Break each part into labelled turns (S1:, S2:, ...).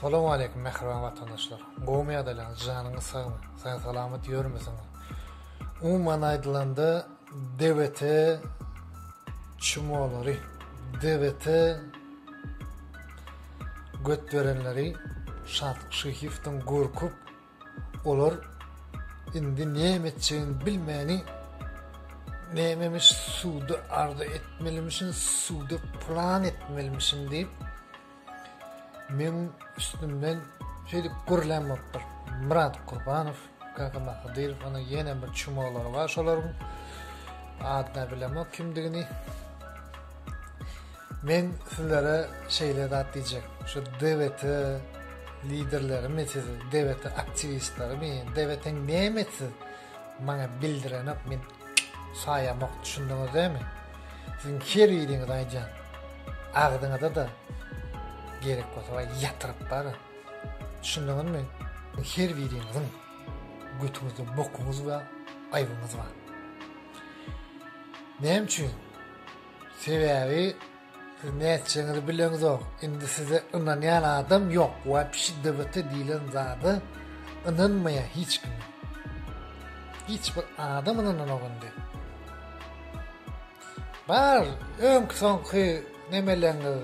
S1: Salam aleýkum mähriban watandaşlar! Gowumy ýagdaýlaryňyz, janyňyz sagmy, sag-salamat ýörmüsiňiz? Umuman aýdylanda, DWT çmolary, DWT götberenleri Şatlyk Şyhyýewden gorkup, Olar indi näme etjegini bilmäni nämemiş suwda arda etmelimişin suwda plan etmelimişin diýip men üstümden şeýle gürlän bolupdyr Myrat Kurbanow Kakama Hydyrow ony ýene bir çumalar bar şolaryň adda bilemok kimdigini Men sizlere şeýle zat diýjek. Şu DWT liderlerimi siz DWT aktiwistlerimi DWT näme siz maňa bildirenok men saýamok düşündüňiz dämi? Siziň her ýeriňiz aýdýan. Agzyňyza da gerek bolsa we ýatyryp bar. Düşündüňizmi? Her ýeriňiziň götüňizde bokuňyz we aýbyňyz bar. Näme üçin? Sebäbi siz nätjeňizi bileňizok. Indi size ynanýan adam ýok. Wapşi DBT diýlen zada ynanmaýar hiç kim. Hiç bir adam ynananok indi. Bar, öňki soňky nemelerňiz,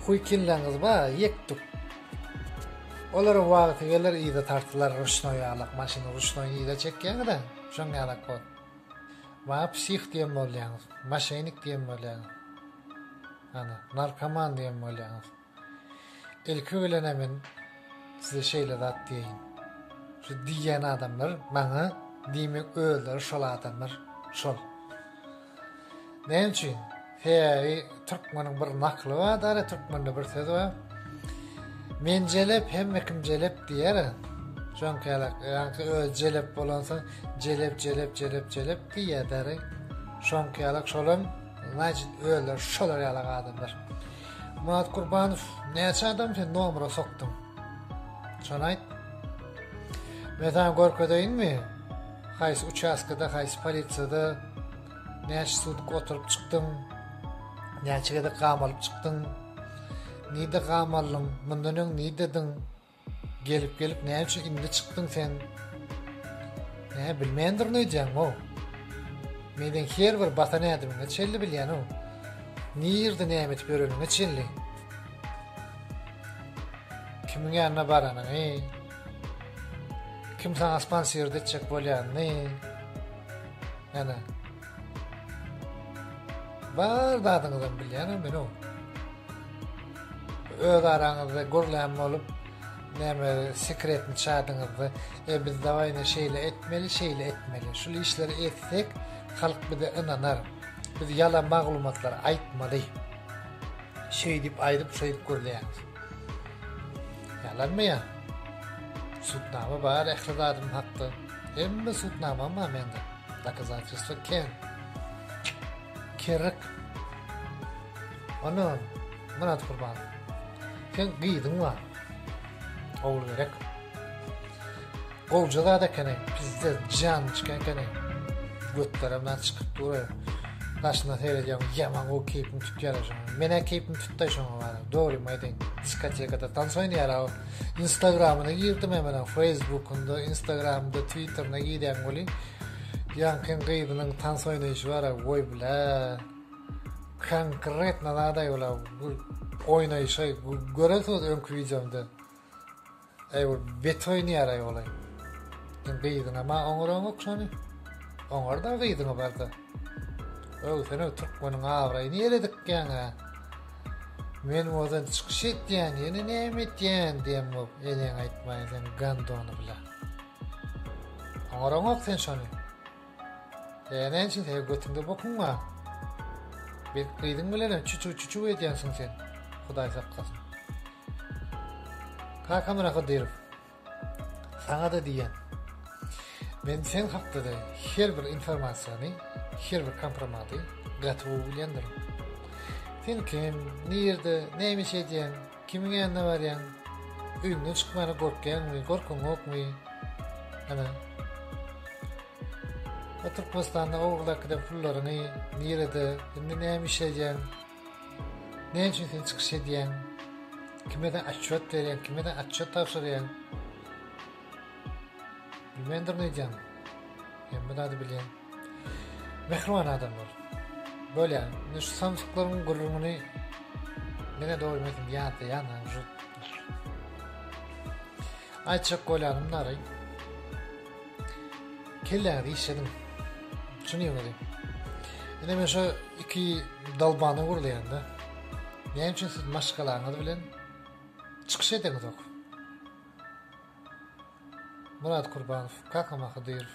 S1: huýkinlerňiz bar, ýekdük. Olaryň wagty geler, yza tartylar ruşnoý ýalak maşyny ruşnoý yza çekýäňiz-ä, şoň ýalak bol. Maňa psih diýen bolýaňyz, moşennik diýen bolýaňyz. Hany, narkoman diýen bolýaňyz. Ilki bilen-ä men size şeýle zat diýeýin. Şu diýýän adamlar maňa, diýmek, özleri şol adamlar, şol. Näme üçin? Sebäbi türkmeniň bir nakly bar-da, türkmende bir söz bar. Men jelep, hemme kim jelep diýer. Şoňkalak, ýa-da öz jelep bolansoň, jelep, jelep, jelep, jelep diýerler. Şoňkalak şolam, näçe özler şolar ýaly adamlar. Murat Kurbanow, näçe adam sen nomera sokduň? Şony aýt. Men sana görkezeýinmi? Haýsy uçastkada, haýsy polisiýada Näçe sutuk oturyp çykdyň? Näçe gezek gam alyp çykdyň? Nirde gam aldyň? Mundan öň nirdediň? Gelip gelip näme üçin indi çykdyň sen? Nä bilmän durun öýdýäň o? Meniň her bir batan ädimiňe çelli bilýän o. Nirde näme edip ýöreniňe çelli. Kimiň ýanyna baranyňy, Kim saňa sponsiordy etjek bolýanny? Ýana. Bar zadyňyzam bilýänem men o. Öz araňyzda gürlän bolup, näme sekretni çadyňyzda, e biz dawaýna şeýle etmeli, şeýle etmeli. Şul işleri etsek, halk bize ynanar. Biz ýalan maglumatlary aýtmaly. Şeýdip aýdyp, şeýdip gürleýäňiz. Ýalanmy ýa? Sudnama bar ähli zadym hakda. Hemme sudnamam bar mende. Dokazatelstwo kän. Kerrik. Ana, Myrat Gurban. Sen gyzyň bar. Ogulgerek. Gowja zat ekeneň pizdez jan içken ekeneň götlerimden çykyp dur daşyna seredýäň ýaman gowy keýpim tutýar şoň menä keýpim tutdy şoň bar dogrymy aýdaýyn diskotekada tans oýnaýar aw instagramyna girdim hemen feýsbukynda instagramynda twitterine girýän welin ýaňkyň gyzynyň tans oýnaýşy bar aw goý bilä konkretno zadaý ol aw oýnaýşy görensiňiz öňki wideomda Eý ol bet oýnaýaraý olaý. Sen gyzyňa ma oňaraňok şony. Oňarda gyzyňa barda. Öw sen öw türkmeniň abraýyny ýere dikýäňä. Men ozal çykyş etýän ýene näme etýän diýen bop eleň aýtmaýyn sen gandony bile. Oňaraňok sen şony. Ýa näçe sen götüňde bokunga bet gyzyň bilenem çuçuw çuçuw edýänsiň sen hudaý saklasyn. Kaka Myrat Hydyrow saňada diýýän men sen hakda-da her bir informasiýany her bir kompromady gaty gowy bilýändirin. Sen kim, nirde, näme iş edýäň, Kimiň ýanyna barýaň? Öýüňden çykmana gorkýaňmy, gorkyňokmy? Ana. O Türkmenistanda owalakide pullaryňy nirede, indi näme iş edýäň? Näme üçin sen çykyş edýäň? Kimede atçot berýäň, kimede atçot tabşyrýaň? Bilmändirin öýdýäňmi? Men bu zady bilýän. Mähriban adamlar. Bolýa. Men şu sanjyklaryň gürrüňini diňe doly metin ýatlaýan hem şu aýtjak bolýanymlary kelläňizi işlediň. Düşünýäňizmi? Ine men şu iki dalbany gürleýän-de. Näme üçin siz maşgalaňyz bilen çykyş edeňizok? Murat Kurbanow, Kakam Ahydyrow.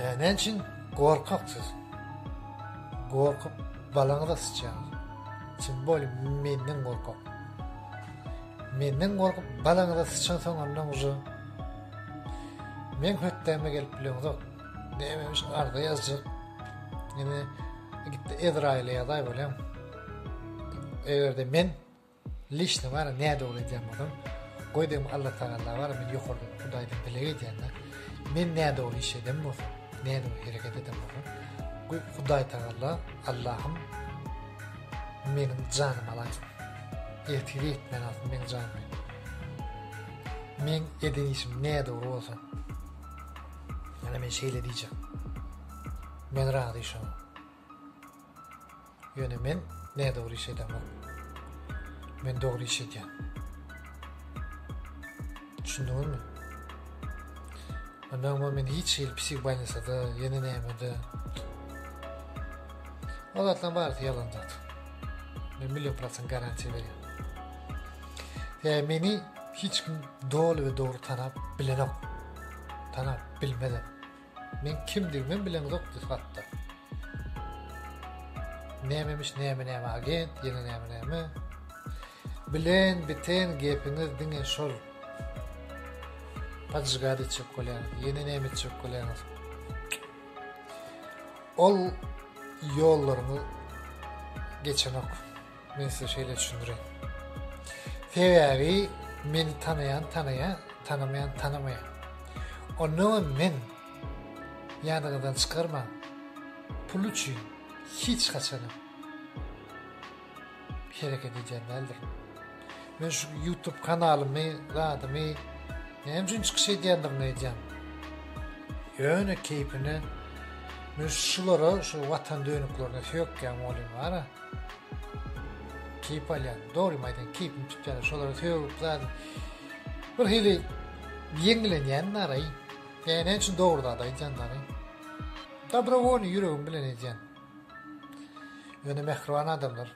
S1: Ýa näme üçin gorkak siz? Gorkup balaňyza syçýaňyz. Kim boli menden gorkak? Menden gorkup balaňyza syçan soň ondan uja. Men hötdäme gelip bileňzok. Näme üçin arda ýazjak? Ýene gitdi Ezraýyla ýazaý bolýan. Eger-de men Lişni bar nä dogry edýän bolsam goý degim Alla tagalla bar men ýokardan hudaýdan dileg edýände men nä dogry iş eden bolsam nä dogry hereket eden bolsam goý hudaý tagalla Allahym meniň janymy alaýsyn ertire etmän alsyn meniň janymy men eden işim nä dogry bolsa ýöne men şeýle diýjek men razy şoňa Ýöne men nädogry iş edemok. Men dogry iş edýän. Düşündiňizmi? Ondan men hiç hili psihbanyasada, ýene nämede. O zatlaryň barysy ýalan zat. Men million prosent garantiýa berýän. Ýa meni hiç kim doly we dogry tanap bilenok. Tanap bilmedi. Men kimdigimem bilemzokdy hatda. Nämemiş näme näme agent, ýene näme näme. Bilen biten gepiňiz diňe şol. Pajyga diýjek bolýan, ýene näme diýjek bolýan. Ol ýollarymy geçenok. Men size şeýle düşündireýin. Sebäbi meni tanaýan tanaýan, tanamaýan tanamaýan. Onda hem men ýadyňyzdan çykarmaň. Pul üçin hiç haçan hereket edýän däldir. Men şu YouTube kanalymy, zadymy näme üçin çykyş edýändigini aýdýan. Ýöne keýpine men şulara, şu watan dönüklerine söýükýän bolýan bara. Keýp alýan, dogrymy aýdaýyn, keýpimi tutýan, şolara sögüp zat. Bir hili ýeňlenýän naraý. Ýa näme üçin dogry zat aýdýan naraý. Dobrovolny ýüregim bilen edýän. Ýöne mähriban adamlar.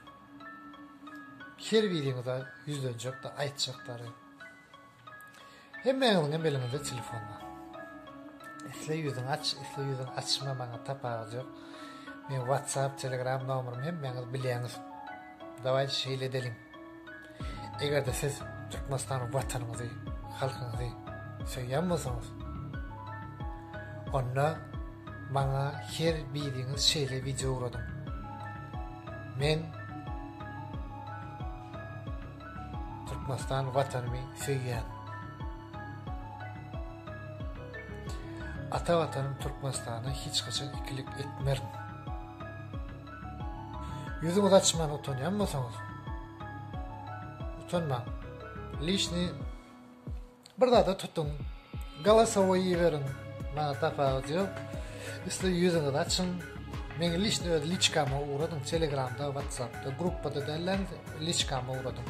S1: Her biriňize ýüzlenjek-de, aýtjakdary. Hemmäňiziň hem eliňizde telefon bar. Isle ýüzüňi aç, isle ýüzüňi açma, maňa tapawudy ýok. Men WhatsApp, Telegram nomerimi hemmäňiz bilýäňiz. Dawaý şeýle edeliň. Eger-de siz Türkmenistany watanyňyzy, halkyňyzy söýýän bolsaňyz, onda maňa her biriňiz şeýle wideo ugradyň. Men Türkmenistan Watanymy söýýän. Ata Watanym Türkmenistana hiç haçan ikilik etmerin. Ýüzüňizi açman utanýan bolsaňyz, utanmaň. Lişni Bir zada tutuň. Galasowy iberiň. Maňa tapawudy ýok. Isle ýüzüňizi açyň. Meň liçni öz liçkama ugradyň. Telegramda, watsapda, gruppada dälläň, liçkama ugradyň.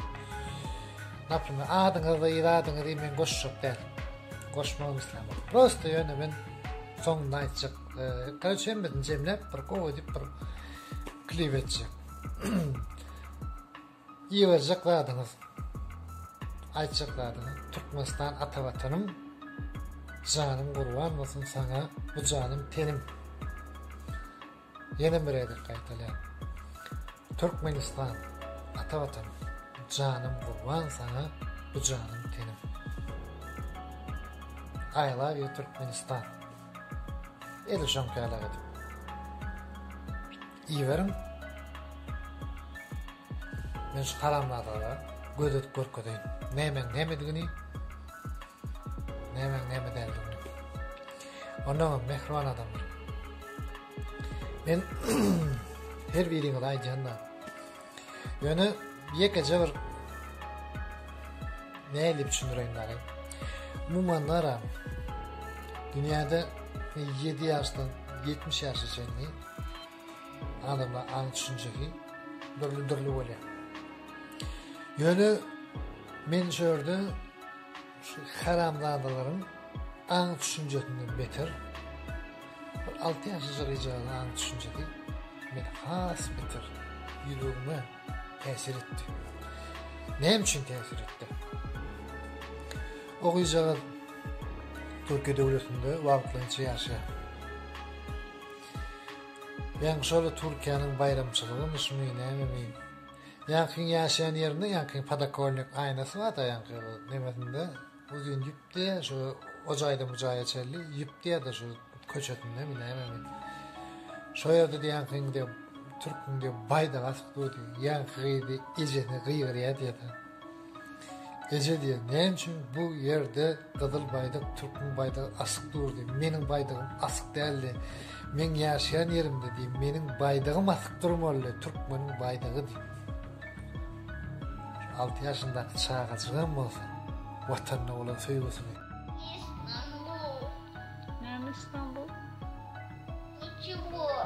S1: Naprimer, adyňyzy, zadyňyzy men goşjak däl. Goşmagam islämok. Prosta ýöne men soňunda aýtjak. Korotçe hemmesini jemläp bir gowy edip bir klip etjek. Iýiberjek zadyňyz, aýtjak zadyňyz Türkmenistan ata watanym Janym gurban bolsun saňa bu janym tenim Ýene bir gezek gaýtalýan Türkmenistan ata watanym Janym gurban saňa bu janym tenim I love you Türkmenistan Edil şoňkaýlar edip. Iberiň Men şu haramzadalara göz edip görkezeýin. Nämeň nämedigini. Nämeň näme däldigini. Ondan hem mehriban adamlar. Men her biriňize aýdýan da. Ýöne ýekeje bir nädip düşündireýin dagy. Umuman ara dünýäde 7 ýaşdan 70 ýaşa çenli adamlar aň düşünjesi dürli-dürli bolýar. Ýöne men şu ýerde Şu haramzadalaryň aň düşünjesinden beter bir alty ýaşajyk ejaganyň aň düşünjesi meni has beter ýüregime täsir etdi. Näme üçin täsir etdi? O gyzjagaz Türkiýe döwletinde wagtlaýynça ýaşaýar. Ýaňy şol Türkiýäniň baýramçylygymy, şumy, nämemi Ýaňkyň ýaşaýan ýerinde ýaňky podokolnik aýnasy barda ýaňky nemesinde uzyn ýüpdi şu o jaýdan bu jaýa çenli ýüpdi ýada şu köçesinde mi näme mi şo ýerde de ýaňkyň de türküň de baýdagy asyk durdy ýaňky gyzy ejesini gygyrýardy ýada Eje diýen, näme üçin bu ýerde gyzyl baýdak, türkmen baýdagy asyk durdy? Meniň baýdagym asyk däldi. Meň ýaşaýan ýerimde diýip, meniň baýdagym asyk durmalydy, türkmeniň baýdagy diýip. Alty ýaşyndaky çagajyk hem bolsa, Watanyna bolan söýgüsini. Istanbul. Näme Istanbul? Niçigor.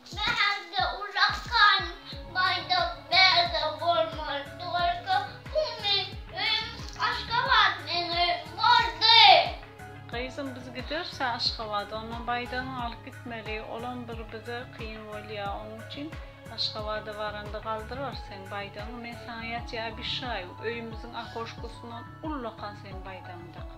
S1: Bärde ulakan baýdak bärde bolmaz Tolga pul men öýüm Aşgabat men öýüm boldy. Gyzym biz gideris Aşgabada ondan baýdagyňy alyp gitmeli olam bir bize kyn bolýa oň üçin Aşgabada baranda galdyrarys seň baýdagyňy men saňa ýatýa abyşaýu öýümiziň akoşkosyndan ullakan seň baýdagyňy dakyp.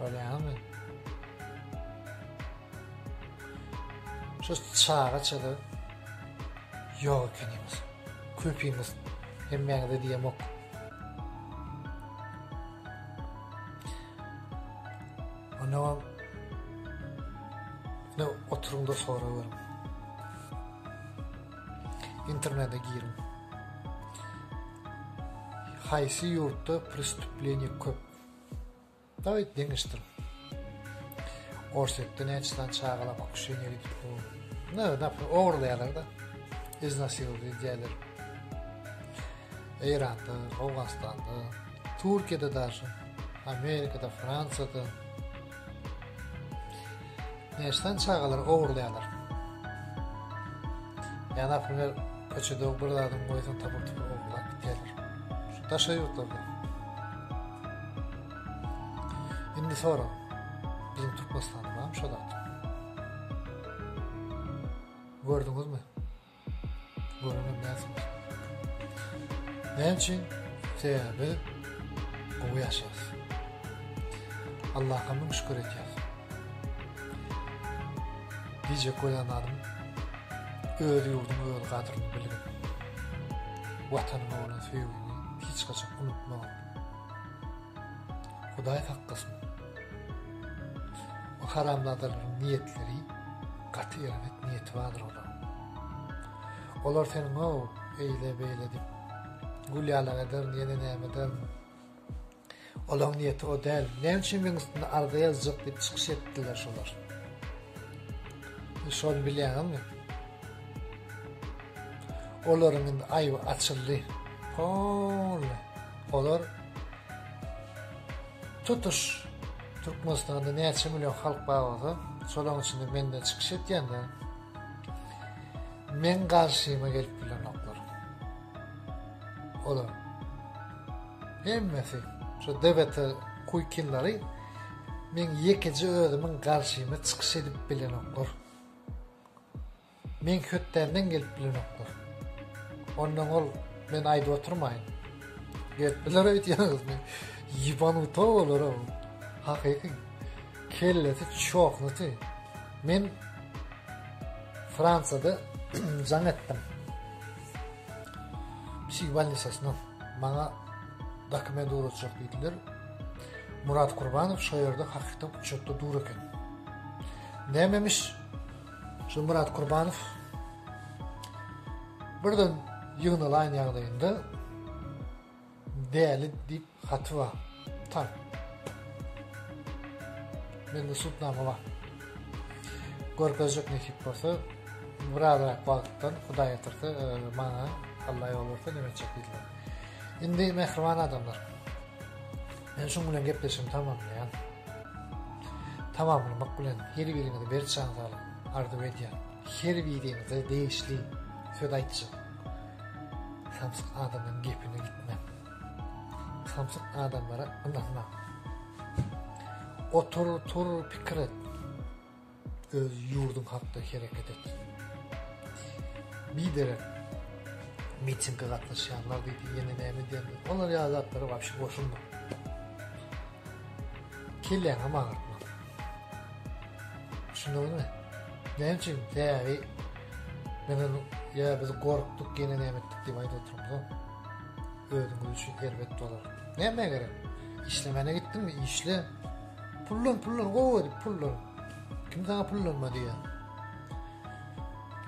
S1: Görýäňizmi? Şu çaga çada ýok ekenimiz. Köpimiz hemmäňize diýemok. Ona ne oturuň da sorawerem. internete giriň. Haýsy ýurtda prestüpleniýe köp? Daý deňeşdir. Orsýetde näçe sany çagalar pokusheniýa gidip dur? Ne, näme ogurlaýarlar-da. Iznasirowdy diýýärler. Eýranda, Owganystanda, Türkiýede daşy, Amerikada, Fransiýada, Näçeden çagalar ogurlaýarlar? Ýa naprimýer köçede bir zadyň goýsaň tapyp tapyp ogurlap gidýärler. Şu daşary ýurtlarda. Indi soraň. Biziň Türkmenistanda barmy şo zat? Gördüňizmi? Näme üçin? Sebäbi gowy ýaşaýarys. Allaha müň şükür edýäris. Diýjek bolan zadym öz ýurduňy, öz gadryny bilgin. Watanyňa bolan söýgüňi hiç haçan unutma. Hudaý saklasyn. Bu haramzadalaryň niýetleri gaty erbet niýeti bardyr olaryň. Olar seniň o eýle beýle diýip gülýalyň eder ýene näme eder. Olaryň niýeti o däl. Näme üçin meniň üstüne arza ýazjak diýip çykyş etdiler şolar. Şony bilýäňmi? Olaryň indi aýby açyldy. Hol. Olar Tutuş Türkmenistanda näçe million halk bar bolsa, şolaryň içinde menden çykyş etýänler meň garşyma gelip bilenoklar. Olar hemmesi şu DBT kuýkinleri meň ýekeje özümiň garşyma çykyş edip bilenoklar. Meň hötdenden gelip bilenoklar. Ondan ol men aýdyp oturmaýyn. Gelip biler öýdýäňiz men. Ýebanuta olara. Hakyky kellesi çoknuty. Men Fransiýada jaň etdim. Psih bolnisasyna maňa dokument ugratjak diýdiler. Murat Kurbanow şo ýerde hakykatdan uçakda dur eken. Nämemiş? Şu Myrat Kurbanow birden ýygnalaýyn ýagdaýynda däli diýip haty bar. Tan. Mende sudnama bar. Görkezjek nesip bolsa, birazrak wagtdan Hudaý ýatyrsa, e, maňa Allah ýol berse näme etjek diýdiler. Indi mähriban adamlar. Men şuň bilen gepleşigimi tamamlaýan. Tamamlamak bilen her biriňize berk şansalyk arzuw edýän. Her biriňize degişli söz aýtjak. Samsyk adamyň gepine gitme. Samsyk adamlara ynanma. Otur, tur, pikir et. Öz ýurduň hakda hereket et. Biderek mitinge gatnaşýanlar diýdi, ýene näme diýenler. Olar ýaly zatlara wapşe goşulma. Kelläňem agyrtma. Düşündiňizmi? Näme üçin? Sebäbi men ony ýa biz gorkduk, ýene näme etdik diýip aýdyp oturmaz. Özüňiz üçin erbet bolar. Nämä gerek? Işlemäne gitdiňmi? Işle. Pullan pullan gowy edip pullan. Kim sana pullanma diýýär.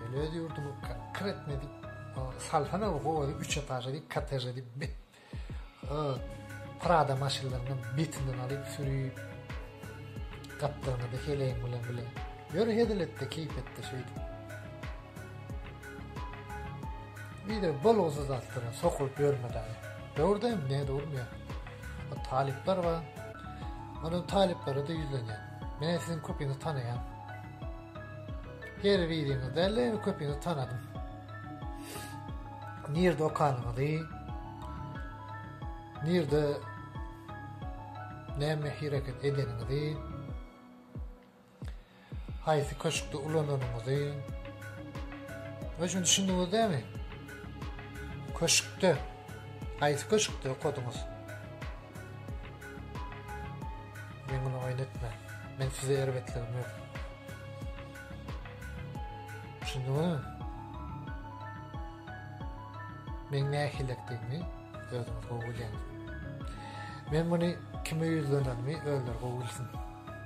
S1: Öyle öz yurdumu kır etme edip salsana bu gowy edip üç etaje edip koteje edip bit. Prada maşynlaryny bitinden alyp sürüp gapdagyna da heleýin bilen bile. Ýör hezil etdi, keýp etdi şeýdip. Biri bolgusyz zatlara sokulyp ýörme daýy. Döwürde ne durmýa. Bu talyplar bar. Munuň talyplary da ýüzlenýär. Men siziň köpini tanaýan. Her biriňiz däli köpini tanadym. Nirde okanyňyzy? Nirde näme hereket edeniňizi? Haýsy köşkde ulananyňyzy Muny üçin düşündiňiz dämi? Köşkde. Haýsy köşkde okadyňyz? Men muny oýun etme. Men size erbetligim ýok. Düşündiňizmi? Men nähilekdigimi özüňiz gowy bilýäňiz. Men muny kime ýüzlenenimi özleri gowy bilsin.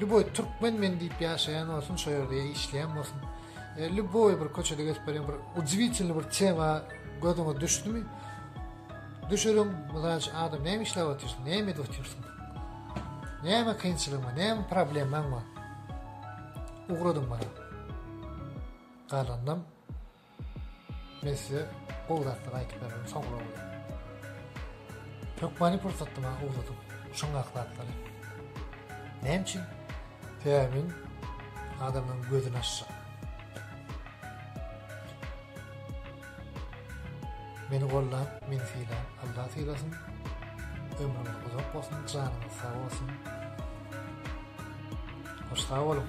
S1: Lýuboý türkmen men diýip ýaşaýan bolsun, şo ýerde ýa işleýän bolsun. E, lýuboý bir köçede geçip barýan bir udiwitilny bir tema gözüňe düşdümi? Düşürüň, mysal üçin adam näme işläp otyrsyň, näme edip otyrsyň? Näme kynçylygyň bar, näme problemaň bar? Ugradyň bana. Galanynam Men size gowy zatlar aýdyp bererin soňra bolýa. Hökmany pursatda maňa ugdadyň şuň akdaklary. Näme üçin? Sebäbi adamyň gözüni açjak. Meni golla, meni sila, Allah silasyn. Ömrüňiz uzak bolsun, janyňyz sag bolsun. Hoş sag boluň.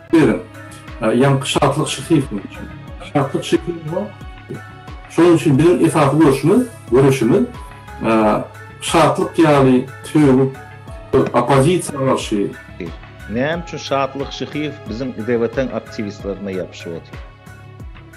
S1: Beren. Ýaňky şatlyk şyhysynyň üçin. Şatlyk şyhy bu. Şonuň üçin biziň esasy göreşimiz, göreşimiz şatlyk ýaly söýgi oppozisiýa garşy. Näme üçin Şatlyk Şyhyýew biziň IDW-tiň aktiwistlerine ýapyşyp otyr?